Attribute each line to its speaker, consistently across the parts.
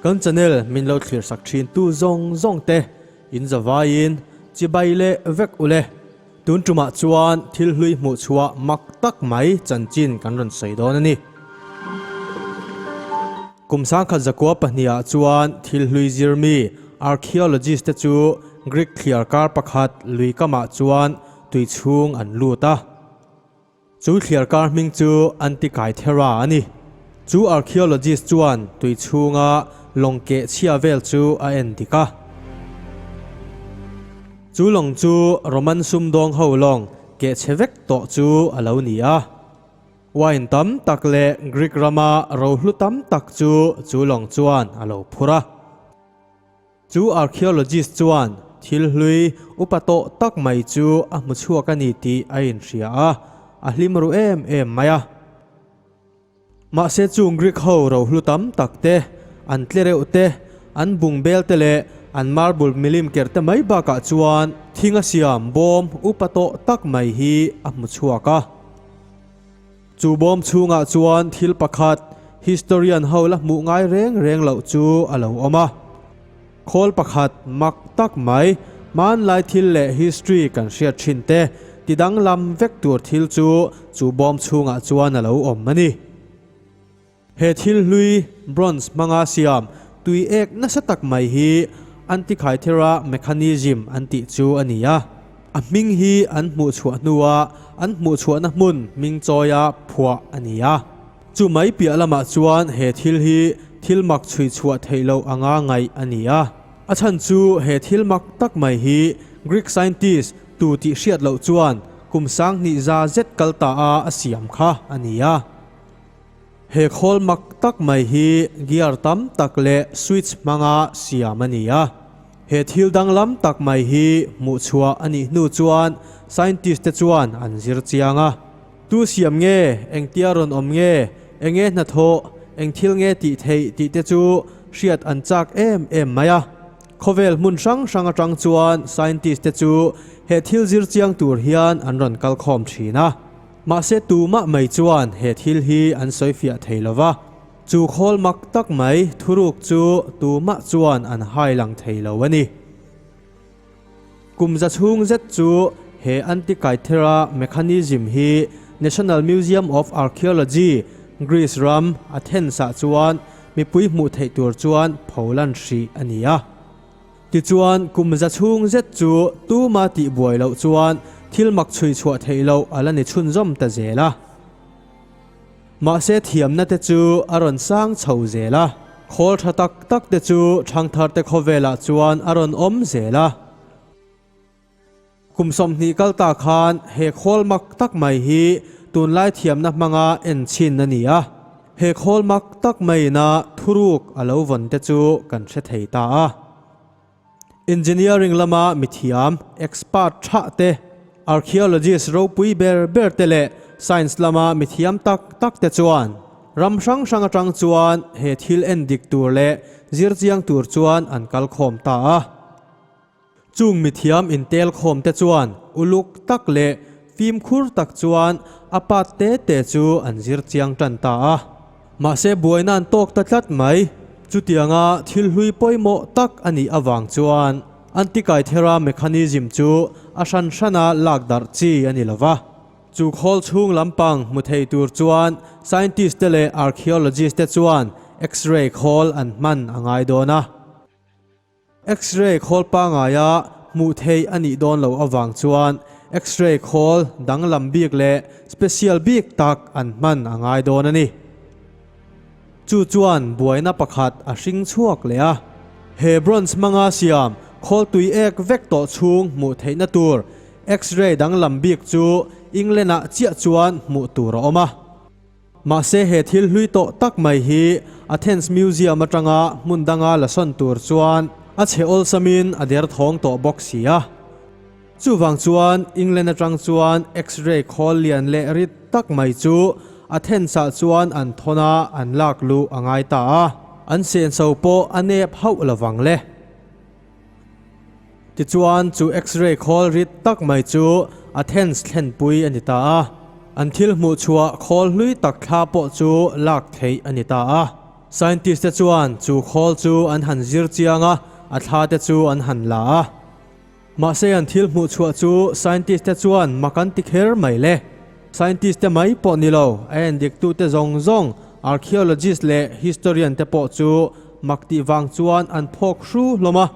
Speaker 1: Kan channel min lo thlir sak thin tu zawng zawng te in zavai in chibai leh vek ule tun tumah chuan thil hlui hmuh chhuah mak tak mai chanchin kan rawn sawi dawn a ni. Kum sangkhat zakua pahnih ah chuan thil hlui zir mi archaeologist te chu Greek thliar kar pakhat lui kam ah chuan tui chhung an lut a. Chu thliar kar hming chu Antikythera a ni. Chu archaeologist chuan tui chhung a lawng keh chhia vel chu a en dik a. Chu lawng chu Roman sumdawng ho lawng keh chhe vek tawh chu a lo ni a. Wine tam tak leh Greek rama rohlu tam tak chu chu lawng chuan a lo phur a. Chu archaeologist chuan thil hlui upa tawh tak mai chu a hmu chhuak a ni tih a inhria a, a hlim ru em em mai a. Mahse chu Greek ho rohlu tam tak te, an tle reuh te, an bung bel te leh an marble milim ker te mai bakah chuan thing a siam bawm upa tawh tak mai hi a hmu chhuak a. Chu bawm chhungah chuan thil pakhat historian ho la hmuh ngai reng reng loh chu a lo awm a. Khawl pakhat mak tak mai, hmanlai thil leh history kan hriat thin te ti danglam vek tur thil chu chu bawm chhungah chuan a lo awm a ni. He thil hlui, bronze hmanga siam, tui ek nasa tak mai hi an tikhaithera, mechanism, an tih chu a ni a. A hming hi an hmuhchhuah hnua an hmuhchhuahna hmun hming chawia phuah a ni a. Chu mai piah lamah chuan he thil hi thil mak chhuihchhuah theih loh anga ngaih a ni a. A chhan chu he thil mak tak mai hi Greek scientist tu tih hriat loh chuan kum sanghnih za zet kal ta a a siam kha a ni a. He khawl mak tak mai hi gear tam tak leh switch hmanga siam a ni a. He thil danglam tak mai hi hmuhchhuah a nih hnu chuan scientist te chuan an zir chiang a. Tu siam nge, engtia rawn awm nge, enge hnathawh, eng thil nge tih theih tih te chu hriat an chak em em mai a. Khawvel hmun hrang hrang atang chuan scientist te chu he thil zir chiang tur hian an rawn kalkhawm thin a. Mahse tumah mai chuan he thil hi an sawifiah thei lo va, chu khawl mak tak mai thuruk chu tumah chuan an hai lang thei lo a ni. Kum za chhung zet chu he Antikaithera mechanism hi National Museum of Archaeology, Greece ram, Athens ah chuan mipui hmuh theih tur chuan pholan hrih a ni a. Tichuan, kum za chhung zet chu tuma tih buai loh chuan thil mak chhui chhuah theih loh a la ni chhunzawm ta zel a. Mahse, thiamna te chu a rawn sang chho zel a, khawl tha tak tak te chu thangtharte khawvelah chuan a rawn awm zel a. Kum sawmhnih kal ta khan he khawl mak tak mai hi tunlai thiamna hmanga en chin a ni a. He khawl mak tak maina thuruk a lo vawn te chu kan hre thei ta a. Engineering lama mithiam, expert thah te, archaeologist ropui ber ber te leh science lama mithiam tak tak te chuan ram hrang hrang atang chuan he thil en dik tur leh zir chiang tur chuan an kal khawm ta a. Chung mithiam intelkhawm te chuan uluk tak leh fimkhur tak chuan a pat te te chu an zir chiang tan ta a. Mahse buaina'n tawk ta tlat mai. Chutianga thil hlui pawimawh tak a nih avang chuan anti-kaithera mechanism chu a hran hrana lak darh chi a ni lo va. Chu khawl chhung lampang hmu thei tur chuan scientist te leh archaeologist te chuan X-ray khawl an hman a ngai dawn a. X-ray khawl pangaia hmuhtheih a nih dawn loh avang chuan X-ray khawl danglam bik leh special bik tak an hman a ngai dawn a ni. Chu chuan buaina pakhat a hring chhuak leh a, he bronze hmanga siam khawl tui ek vek tawh chhung hmuh theihna tur X-ray danglam bik chu England-ah chiah chuan hmuh tur a awm a. Mahse he thil hlui tawh tak mai hi Athens Museum atanga hmun danga la sawn tur chuan a chhe awlsamin a der thawng tawh bawk si a. Chuvang chuan England atang chuan X-ray khawl lian leh rit tak mai chu Athens ah chuan an thawn a, an lak luh a ngai ta a, an senso pawh a nep hauh lo vang le. Tichuan chu X-ray khawl rit tak mai chu a thens thlenpui a ni ta a, an thil hmuhchhuah khawl hlui tak thla pawh chu lak theih a ni ta a. Scientist te chuan chu khawl chu an han zir chiang a, a thla te chu an han la a. Mahse an thil hmuhchhuah chu scientist te chuan mak an ti kher mai le. Scientist te mai pawh ni lo, a en diktute zawng zawng, archaeologist leh historian te pawh chu mak tih vang chuan an phawk hru hlawm a.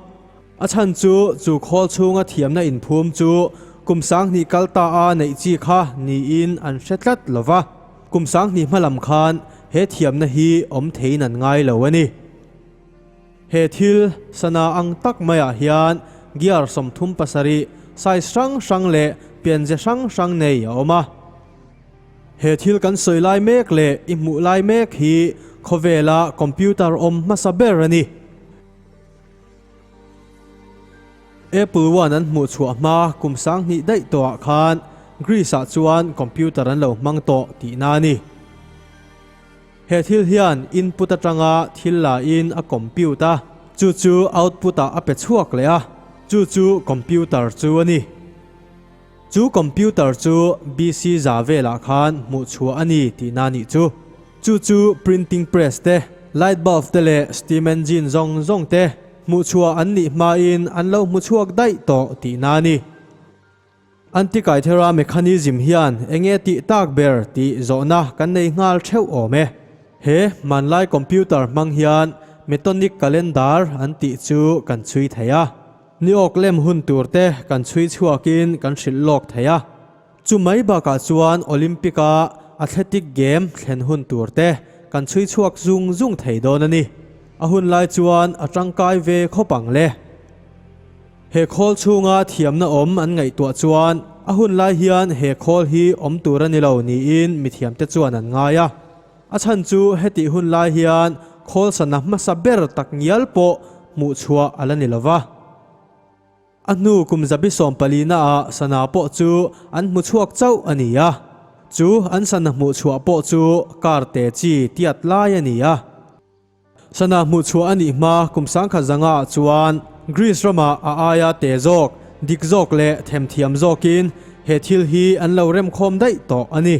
Speaker 1: A chhan chu chu khawl chhunga thiamna inphum chu kum sanghnih kal ta a neih chi kha niin an hre tlat lo va. Kum sanghnih hma lam khan he thiamna hi awm theiin an ngai lo a ni. He thil sana ang tak mai ah hian gear sawmthum pasarih, size hrang hrang leh pianzia hrang hrang nei a awm a. He thil kan sawi lai mek leh i hmuh lai mek hi khawvel ah computer awm hmasa ber a ni. Apple one an hmuh chhuah hma kum sang hnih daih tawh ah khan Greece ah chuan computer an lo hmang tawh tihna a ni. He thil hian input atanga thil lain a compute a, chu chu output ah a pe chhuak leh a, chu chu computer chu a ni. Chu computer chu BC za velah khan hmuh chhuah a ni tih na nih chu. Chu chu printing press te, light bulb te leh steam engine zawng zawng te hmuh chhuah an nih hmain an lo hmu chhuak daih tawh tih na a ni. Anti-Caithera mechanism hian eng nge tih tak ber tih zawhna kan nei nghal theuh awm e. He hmanlai computer hmang hian Metonic Calendar an tih chu kan chhui thei a, ni awk lem hun tur te kan chhui chhuak in kan hrilh lawk thei a. Chu mai bakah chuan Olympic a Athletic Game thlen hun tur te kan chhui chhuak zung zung thei dawn a ni. A hun lai chuan a tangkai ve khawp ang le. He khawl chhunga thiamna awm an ngaihtuah chuan a hun lai hian he khawl hi awm tur a ni lo niin mithiamte chuan an ngai a. A chhan chu hetih hun lai hian khawl sana hmasa ber tak ngial pawh hmuh chhuah a la ni lova. A hnu kum zabi sawm palina ah sana pawh chu an hmu chhuak chauh a ni a. Chu an sana hmuh chhuah pawh chu karte chi tiat lai a ni a. Sana hmuhchhuah a nih hma kum sangkhat zanga ah chuan Greece ramah a aia te zawk, dik zawk leh them thiam zawkin he thil hi an lo remkhawm daih tawh a ni.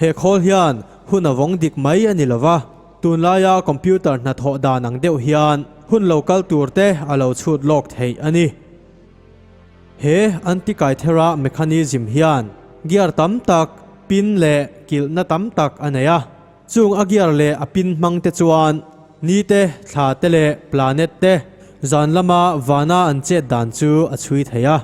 Speaker 1: He khawl hian hun a vawng dik mai a ni lo va, tunlaia computer hnathawh dan ang deuh hian hun lo kal tur te a lo chhut lawk theih a ni. He Antikythera mechanism hian gear tam tak, pin leh kilhna tam tak a nei a. Chung a gear leh a pin hmang te chuan ni te, thla te leh planet te zan lama vana an chet dan chu a chhui thei a.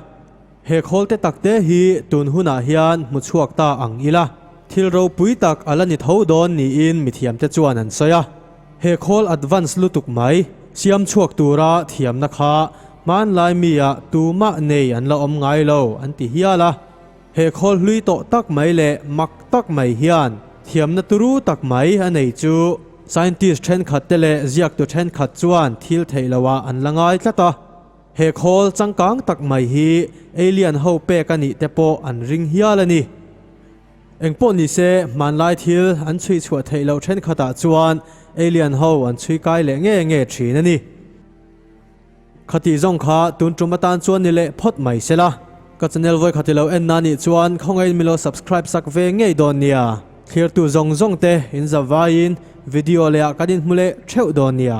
Speaker 1: He khawl te tak te hi tun hunah hian hmu chhuak ta ang ila, thil ropui tak a la ni tho dawn niin mithiam te chuan an sawi a. He khawl advance lutuk mai siam chhuak tura thiamna kha hmanlai mia tumah nei an la awm ngai lo an ti hial a. He khawl hlui tawh tak mai leh mak tak mai hian thiamna turu tak mai a nei chu. Scientist thenkhat te leh ziaktu thenkhat chuan thil theih lo ah an la ngai tlat a. He khawl changkang tak mai hi alien ho pek a nih te pawh an ring hial a ni. Engpawh ni se hmanlai thil an chhui chhuah theih loh thenkhat ah chuan alien ho an chhui kai leh nge nge thin a ni. Khati zawng kha tun ṭum atan chuan ni leh phawt mai se la. Ka channel vawikhat ilo en na nih chuan khawngain milo subscribe sak ve ngei dawn nia. Thlirtu zawng zawng te in zavaiin video leh ah kan in hmu leh theuh dawn nia.